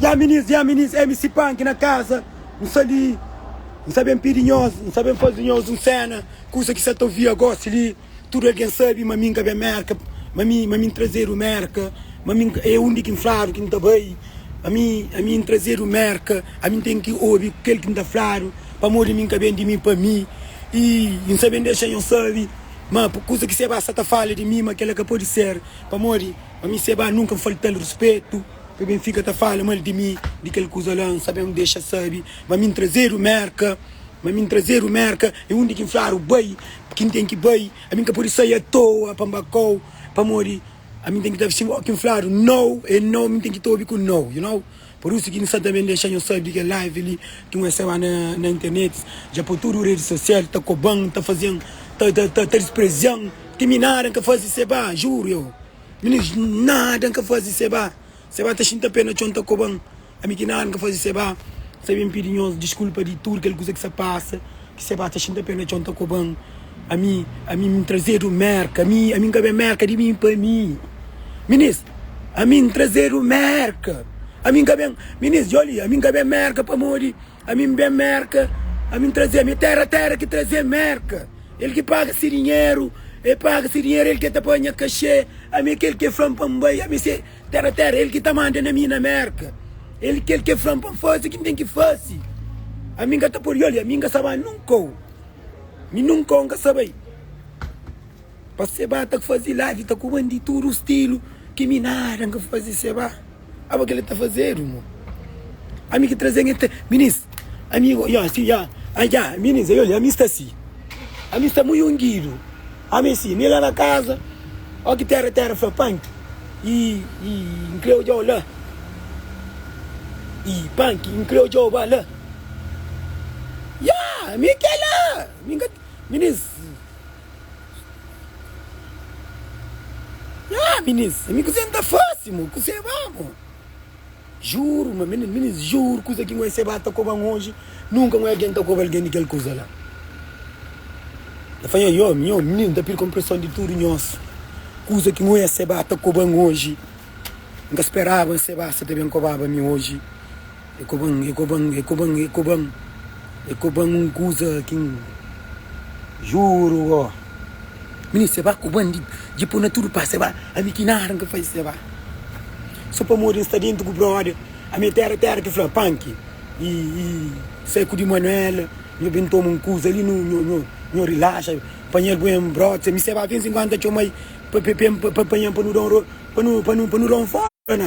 Ya minins, ya minins, MC Panki na kaza N sta li, N sta ben pidi nhos, N sta ben faze nhos un séna Kusa ki sa ta ouvia gosi li Tudu algen sabe ma mi N ka ben Mérka Ma mi, ma mi N trazedu Mérka Ma mi N ka, é undi ki N fladu ki N ta bai Ami, ami N trazedu Mérka Ami N ten ki obi kel ki N ta fladu Pamodi mi N ka ben di mi pa mi I N sa ben dexa nhos sabe ma Pur kuza ki Sebá sa ta fala di mi ma kel-la ka pode ser Pamodi pa mi Sebá nunka N falta-l ruspetu Pa ben fika ta fala mal di mi Di kel kuza la N sa ben dexa sabe ma mi N trazedu Mérka. ma mi N trazedu Merka i undi ki N fladu bai ki N ten ki bai, ami N ka pode sai atoa pa N ba kau, pamodi ami N ten ki ta visti o ki N fladu nau e nau mi N ten ki ta obi ku nau you know. Pur isu ki N sta ta ben dexa nho sabe di kel live li ki N reseba na internet dja pa tudu redi sosial ta koban, ta fazen, ta disprezian, ti mi nada N ka fazi seba, juru eu, mi nada N ka fazi seba, Seba ta xinta pé na txon ta koba-m Ami ki nada N ka faze Seba sa ben pidi nhos diskulpa di tudu kel kuza ki sa pasa Ki Seba ta xinta pé na txon ta koba-m Ami, ami N trazedu Mérka Ami, ami N ka ben Mérka di mi pa mi Minis, ami N trazedu Mérka Ami N ka ben, minis, djoli Ami N ka ben Mérka pamodi. Ami N ben Merka Ami N trazê mi tera Tera ki trazê Merka El ki paga se dinheru El paga se dinheru El ki ta pâ nha kaxê Ami é kel ki el fla-m pa N bai Ami sê tera Tera el ki ta manda na mi na Merka El é kel ki el fla-m pa N faze ki N ten ki faze Ami N ka ta pode olha Mi N ka sa ba nunka-u Mi nunka-u N ka sa bai. Pa seba ta fazi live ta ku bandi tudu stilu ki mi nada n ka fazi seba aba kel ta fazedu mo ami ki trazen el ta minis ami ya si ya ya minis yoli ami sta si ami sta mui ungidu ami si mi la na kaza oki tera tera fla panki i i n kre ojau la i panki n kre ojau ba la ya mi kela mi ka minis. Nha minins, ami kuzê nta fase mo, kuzê ba mo? Juru ma minins, minins juru kuzê ki ngoi seba ta koban oji, nunka ngoi algen ta koba algen di kel kuza la. Ta fla nha omi, nha omi, minins nta pirka npreson di tudu nhos, kuza ki ngoi seba ta koban oji, nka speraba nseba si ta ben kobaba mi oji. E koba-m, e koba-m, e koba-m, e koba-m E koba-m un kuza ki N juru oh Mini se ba koba-m di Dje po-m na tudu pas se ba Ami ki nada N ka fai se ba So pamodi N sta dentu ku brode Ami é tera tera ki fla punk Ih ih Sai ku di Manuel Nho ben toma un kuza li Nho nho nho nho rilaxa Panha-l bu-m brode Ami se ba fin si N kuanta txoma-i Pa pa pa-m pa pa panha-m pa nu da un rolo Pa nu pa nu pa nu da un foda na.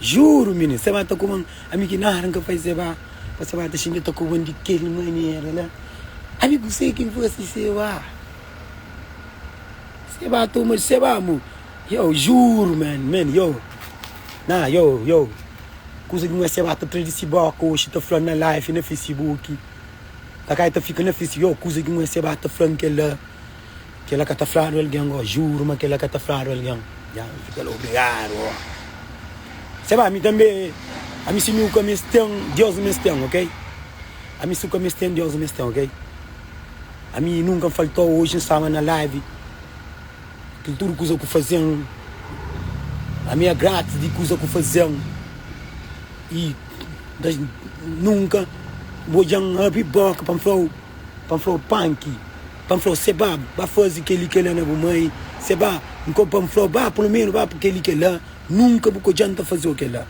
Juru minin Seba ta kuba-m Ami ki nada N ka faze Seba Pa Seba ta xinti el ta kuba-m di kel manera la Ami ku se ki N fase Seba Seba toma di Seba amu Yow juru man man yow Nah yow yow Kuza di nôs Seba ta tra di si boka Oxi ta fla-m na live na facebook Kakai ta fika na face Yow kuza di nôs Seba ta fla-m kel la. Kela ka ta fladu algen oh. Juru ma kela ka ta fladu algen ya mi fika la obrigadu oh. Se ba mi tanbe ami si nu ka mes ten Deus mes ten ok ami su ka mes ten Deus mes ten ok ami nunka n faltou oji n staba na live kil tudu kuza ku fazen ami é gratis di kuza ku fazen i nunka n odjan n abri boka pa n flau pa n flau panki Pa N fla-u, Seba, ba faze kel-li, kel-la na bu mai. Seba, N kóbe pa N fla-u, Ba, pulomenu ba pa kel-li, kel-la. Nunka bu ka djanta faze-u kel-la.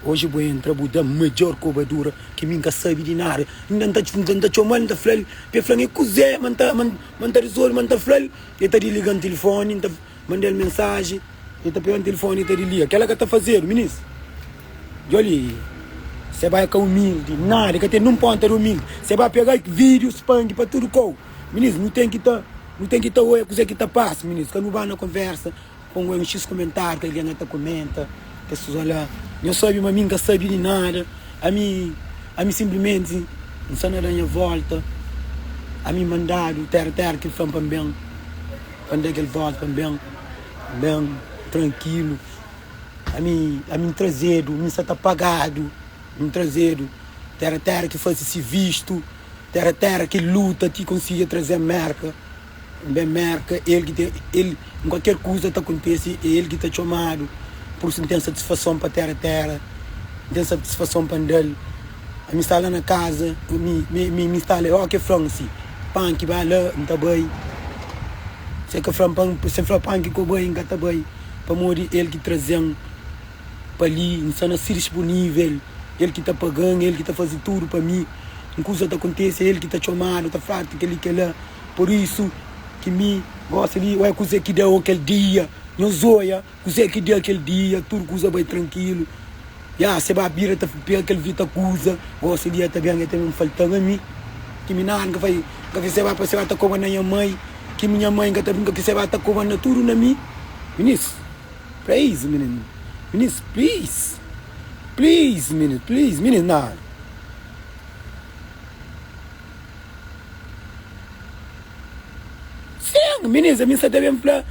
Oji bu entra, bu da-m midjór kobadura, ki mi N ka sabe di nada. Inda N ta N ta txoma-l, N ta fla-l pa el fla-m, E kuzê ma N ta ma N ta rezolve? Ma N ta fla-l. El ta disliga-m tilifóni. N ta. Manda-l mensaji, i ta pega-m tilifoni i ta di, Lia, kel-la ka ta fazedu, minis. Djo li, se bai ka umildi nada, i ka ten nin un ponta di umildi. Se bai pega vídiu, spandi pa tudu kau. Minis, nu ten ki ta, nu ten ki ta oja kuzê ki ta pasa, minis. Ka nu bai na konversa pa un oja un x kumentáriu ki algen na ta kumenta, kes kuza la. Nhos sabe ma ami N ka sabe di nada. Ami, ami sinplimenti N sta na da nha volta. Ami mandadu téra-téra, ki el fla-m pa N ben. Kande kel volta N ben, N ben trankilu Ami, ami N trazedu Mi sa ta pagadu Mi N trazedu Tera, tera ki fase si vistu Tera, tera ki luta Ti konsigi traze Merka N ben Merka El ki ten, el N kualker kuza ta kontese É el ki ta txomadu Pursu N ten satisfason pa tera, tera N ten satisfason pa N da-l. Mi sta la na kaza mi mi mi mi sta la ok fla-m si panki ba la n ta bai se ka fla-m pa n se fla panki ku bai n ka ta bai pamodi el ki traze-m pa li n sta na si dispunivel el ki ta paga-m el ki ta faze tudu pa mi un kuza ta kontese é el ki ta txoma-m ta fla-m kel-li kel-la pur isu ki mi gosi li ué kuzê ki da-u kel dia nhos oia. Kuzê ki dia kel dia tudu kuza bai trankilu ya se ba bira ta pega kel vita kuza gosi se dia ta ben e ta ben faltaba mi ki mi nan ka fai ka fai se ba pa se ba ta koba na nha mai ki mi nha mai ka ta brinka ki se ba ta koba na tudu na mi minis please minis minis please please minis please minis nan. Sen, minis, ami nsa ta ben fla,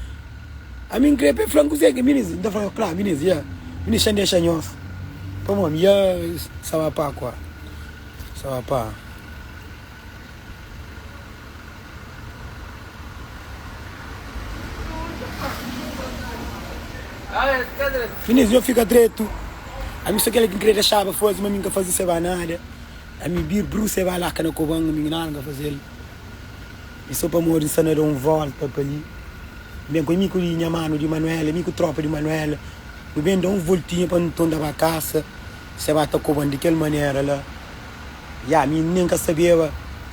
ami nkre pe fla-m kuzê ki minis. Nta fla, kla, minis, ya, minis xa ndexa nhos. Pamodi ami, ya, sa ba pa kua, sa ba pa. Minis, nho fika dretu, ami so kel ki nkre dexaba faze, ma ami nka faze seba nada. Ami bir bruxa e ba la ka na kobanga mi nada nka fazel mi so pamodi mi sta na da un volta pa li mi ben ku ami ku nha manu di manuela ami ku tropa di manuela nu ben da un voltinha pa nton da ba kasa se ba ta koban di kel manera la ya mi nen ka sabeba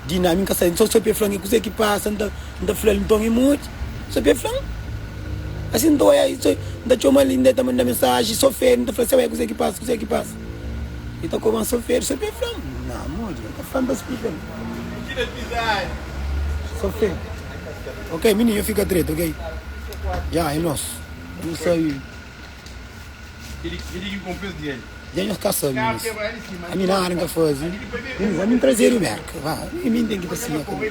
di na mi nka sa so so pe flan e kuze ki pasa nta nta flal nton e modi so pe flan asi nta oia i so nta txomal i nda e ta manda mensaji so fe nta fla seu e kuze ki pasa kuze ki pasa. E ta komansa ofende, só pe fla-m, na modi, e ta fla-m pa splika-l. Só fla-l, ok mininu, nha fika dretu, ok, dja, e nos, nu sai, dja nhos ka sabe nos, ami nada N ka faze, mininu, ami N traze-l di Merka, va, e mi N ten ki ta siña kume.